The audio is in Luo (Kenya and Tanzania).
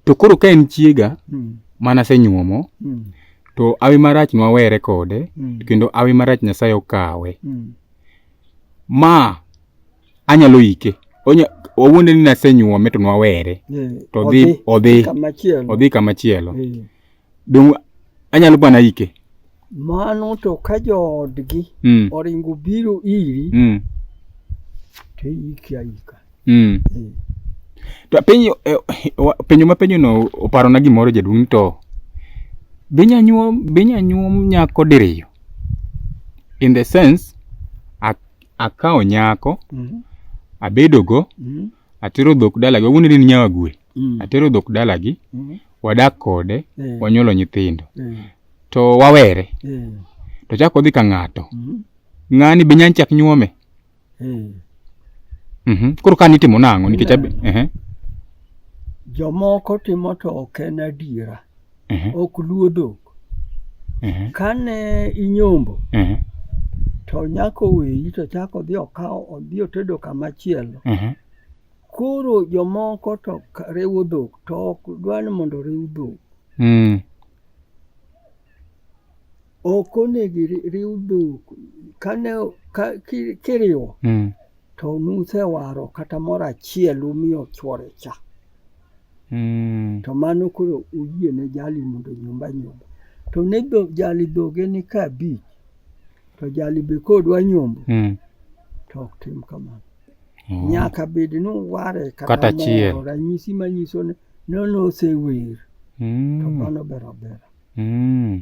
To koro ka en chiega mm. mana senyuomo mm. to awi marach nwawere kode mm. kendo awi marach Nyasaye okawe mm. ma anyalo ike onya owuonde ni nasenyuome to nwawere yeah. to odhi odhi kamachielo odhi kamachielo yeah. Donge anyalo bana ike? Mano to ka joodgi mm. oringo biro iri mm. to iiki aika. Mm. Eh. To penyo eh, penyo ma penyo no oparo na gimoro jaduong' to binya nyuom binya nyuom nyako diriyo in the sense akawo nyako mm -hmm. abedogo mm -hmm. atero dhok dalaga wuonere ni nyawa gwe mm. atero dhok dalagi mm. wadak kode mm. wanyuolo nyithindo mm. to wawere mm. to chako odhi ka ng'ato mm. ng'ani be nyany chak nyuome mm. mm -hmm. koro ka nitimo nang'o nikech mm. uh -huh. jomoko timo to ok en adiera uh -huh. ok luo dhok uh -huh. kane inyombo uh -huh. to nyako weyi to chako odhi okawo odhi otedo kamachielo uh -huh. Koro jomoko to riwo dhok to ok dwa ni mondo oriw dhok. Mm. Ok onego iriw dhok kane ka, ki, kiriwo mm. to nusewaro kata moro achiel umiyo chwore cha. Mm. To mano koro uyie ne jali mondo nyumba nyumba. To ne jali dhoge ni ka abich to jali be kodwa nyombo mm. to ok tim kamano. Oh. Nyaka bed ni uware kata achiel. Ranyisi manyiso ni nono osewer. Mm. To mano bero bero. Mm.